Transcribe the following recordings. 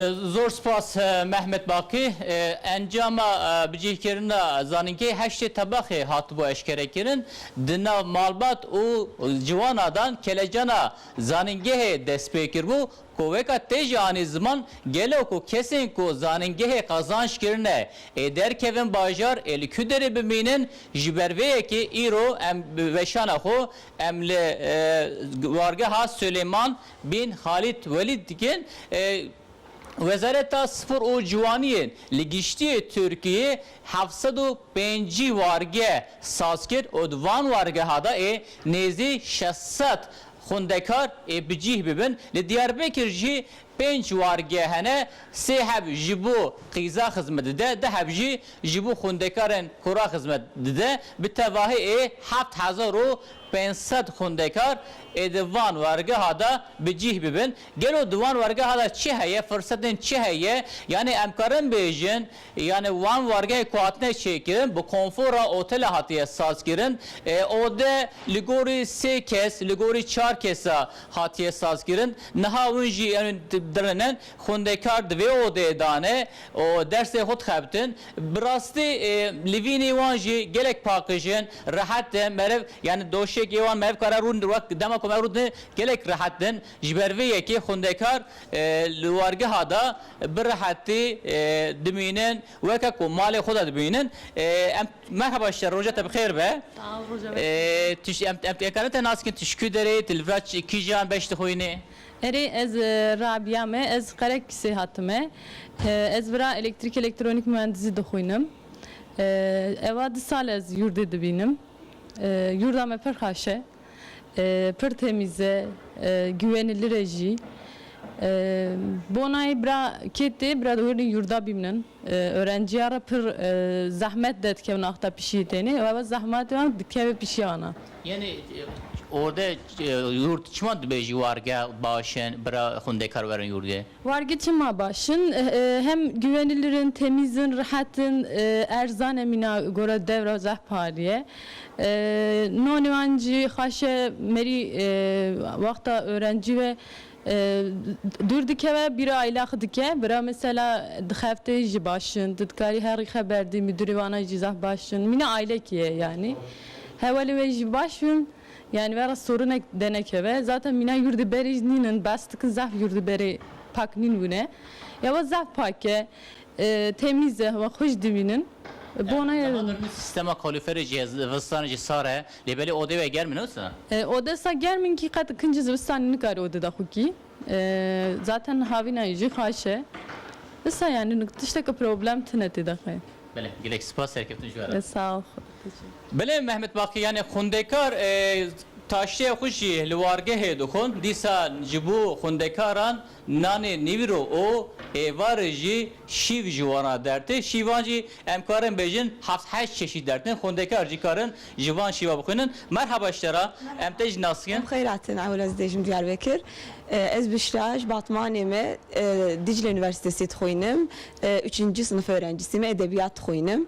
Zor spas Mehmet Baqi. Encama bicihkirina zanîngehê heştê Tebaxê hatibû eşkerekirin. Di nav malbat û ciwana de kelecana zanîngehê destpêkiribû ku weka tê jî anî ziman gelo ku kesên ku zanîngehê qazanc kirine ê derkevin bajar ê li ku derê bimînin ji ber vê yekê îro em bi weşana xwe em li wargeha Suleyman Bin Xalîd Welîd dikin, Wezareta Spor û Ciwaniyê li giştîyê Tirkiyeyê heft sed û pênc wargeh saz kir û di van wargeha de ê nêzî şeş sed xwendekar ê bi cîh bibin. Li Diyarbekir jî pênc wargeh hene, sê heb ji bo qîza xizmet dide, du heb jî ji bo xwendekarên kura xizmet dide. Bi tevahî ê heft hezar û pênc sed xwendekar ê di van wergeha de bi cîh bibin. Gelo di wan wergeha de çi heye, firsetên çi heye? Yanê em karin bêjin yanê wan wergehê ku hatine çêkirin bi konfora otele hatiye sazkirin. Ode li gorî sê kes, li gorî çar kesa hatiye sazkirin. Niha win jî em ê dirinin. Xwendekar di vê odeyê de ne û dersê xwe dixebitin. Bi rastî li vînî wan jî gelek pakij in, rehet in, meriv yanî doşekê wan meriv kare rûn wek dema ku me rûdin gelek rehet bin. Ji ber vê yekê xwendekar li wargeha de bi rehetî dimînin weke ku malê xwe de dimînin. Em Merhaba şer roja te bi xêr be. Sağ ol roja me. Em em dikarin te nas bikin tu ji ku derê yî, tu li vir kîjan beş dixwînî? Erê ez Rabîa me, ez Qereqîsê hatime. Ez vira elektrîk-elektronik muhendisî dixwînim. Ewa di sal ez yurdê dibînim. Yurda me pir xweş e. Pir temîz e. Giwenilîr e jî. Bonayî bira kê tê bira dewêrnê yurda bîmnin. Orenciya re pir zehmet de dikevin axta pişîyê tenê û ewa zehmatê wan dikeve pişîya wan a. Yenê orde yurt çima dibêjî warge baş in bira xwendekar werin yurdê? Warge çima baş in? Hem güwenilir in, temîz in, rihet in, erzan e mîna gora dewra zehparî ye. Nonê wan jî xweş e, merî wexta orencî ve Dûr dikeve bîra îlaq dike. Bira mesela dixeftê jî baş in. Tu dikarî herî xeber dî mîdûrê wana jî zaf baş in. Mîna aîlekî ye yanî. Hewelê wê jî baş in. Yanî vera sorinek denekeve. Zaten mîna yurdê berê jî nîn in. Behs dikin zaf yurdê berê pak nîn bûne. Ewa zaf pak e. Temîz e, hewa xweş dibînin. Bone. Niha mir min sîstema kalûferê jî heye, zivistanê jî sar e. Lê belê odê wê germ in wisa? Ode sa germ in kî qet kincî zivistanê nikarî ode de xwe kî. Zaten havînayê jî xaş e. Wisa yanî tişteke problem tine tê de xwe. Belê, gelek spas, serkeftin ji we re. Sağ ol. Belê Mehmet Baqî, yanî xwendekar taştê xwe jî li wargehê dixwend, dîsa ji bo xwendekaran Nanê nîvro û êvarê jî şîv ji wan re dertê. Şîvan jî em karin bêjin heft heşt çeşît dertên. Xwendekar jî karin ji van şîva bixwînin. Merhaba ji te re. Em te jî nas dikin. Em xeyrat in. Ewil ez dê jim Diyarbekir. Ez Bişra ji Batmanê me. Dîcle Unîversîtesê dixwînim. Uçinci sinif orencisî me. Edebiyat dixwînim.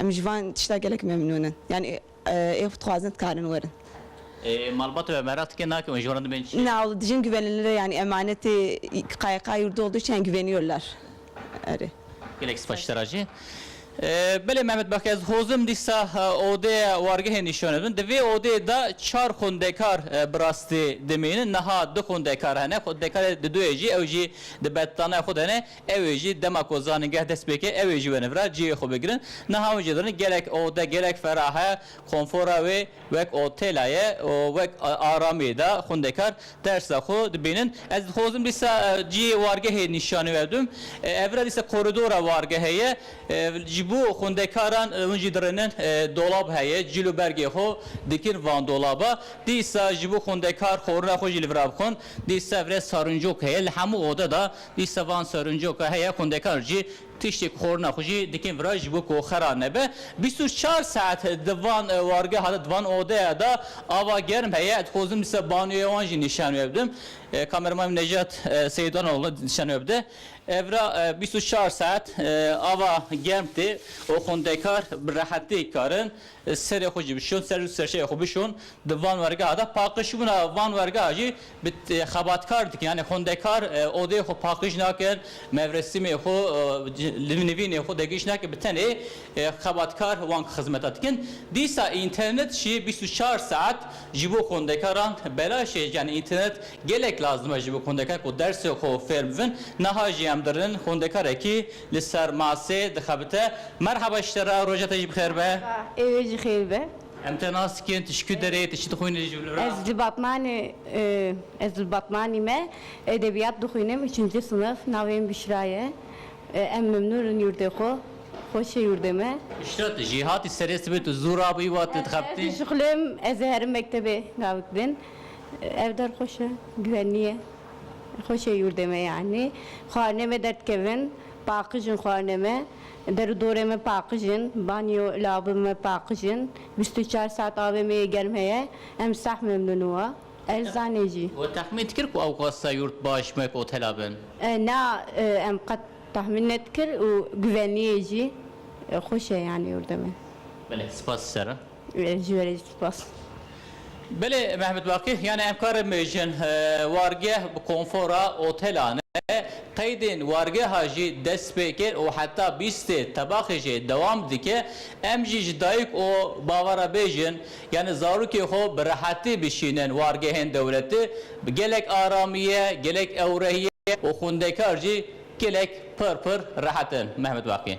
Em ji van tişta gelek memnûn in. Yanî ê xwe dixwazin dikarin werin. Ê malbata we mereq dike nake wan ji wan re dibên çi? Na wla dijîn guvenilire yanî emanetê qayîqa yûrda oldu çiyan guveniyor lar. Erê. Gelek spas ji te re jî. Belê Mehmet Bak ez hozim dîsa odeya wargehê nîşan didin. Di vê odeyê de çar xwendekar bi rastî dimînin. Niha du xwendekar hene. Xwendekarê di duyê jî ew jî di betlanaya xwe de ne. Ew ê jî dema ku zanîngeh dest pê ke ew ê ji we ne vira cihê xwe bigirin. Niha hûn jê dirin gelek ode, gelek ferah e, konfora wê wek otela ye û wek aramiyê de xwendekar dersa xwe dibînin. Ez dixwazim dîsa cihê wargehê nîşanî we bidim. Ev vira dîsa koridora wargehê ye. Ji bo xwendekaran hûn jî dirinin dolab heye, cîl û bergê xwe dikin van dolaba. Dîsa ji bo xwendekar xorina xwe jî li vira bixwin. Dîsa vira sarincok heye li hemû ode de. Lîsta van serincoka heye, xwendekar jî tiştêk xwarina xwe jî dikin vira ji bo ku xera nebe. Bîst û çar saet di van wargeha de, di van odeya de ava germ heye. Dixwazim dîsa banyoya wan jî nîşan wê bidim. Kameraman min Nejat Seyidoğlu nîşan wê bide. Vira bîst û çar saet ava germ tê û xwendekar bi rehetî karin Serê xwe jî bişon, ser û serşeyê xwe bişon di van wergeha de. Paqijbûna van wergeha jî bi xebatkar dikin. Yanî xwendekar odeyê xwe paqij nakin, mevresîmê xwe, nivînê xwe degihîş nakin. Bi tenê xebatkar wan xizmeta dikin. Dîsa înternet jî bîst û çar saet ji bo xwendekaran belaş e. Yanî înternet gelek lazim e ji bo xwendekar ku dersê xwe fêr bibin. Niha jî em dirin xwendekarekî Li ser masê dixebite. Merhaba ji te re, roja te jî bi xêr be. Merhaba, ê wê jî xêr be. Em te nas dikin, tu ji ku derê yî, tu çi dixwînî ji li ra? Ez li Batmanê, ez li Batmanî me edebiyat dixwînim, üçinci sınıf, navê min Bişra ye. Em memnûn in yurdê xwe, xweş e yurdê me. Bişra tu jî hatî serê sibê, tu zû rabûyî wa tu dixebitî? Ez dişixulêm, ez ê herim mektebê gavik din. Ev der xweş e, güvenlî ye. Xweş e yurdê me yanî. Xwarinê me derdikevin, paqij in xwarinê me. Der û dorê me paqij in. Banyo, lawabin me paqij in. Bîst û çar saet avê me yê germ heye. Em seh memnûn wa. Erzanê jî. We texmîn dikir ku ew xwesta yurt baş wek otela bin? Na, em qet texmîn nedikir û guvenliyê jî. Xweş e yanî yurdê me. Belê, spas ji te re. Ji we re spas. Belê Mehmet Baqî, yanî em karê mijin, wargeh, konfora, otelan e, qeydên wargeha jî dest pê kir û heta bîstê tebaxê jî dewam dike. Em jî ji dayik û bava re bêjin, yanî zarokê xwe bi rehetî bişînin wargehên dewletî, bi gelek aramiye, gelek ewrehiye û xwendekar jî gelek pir pir rehet in. Mehmet Baqî.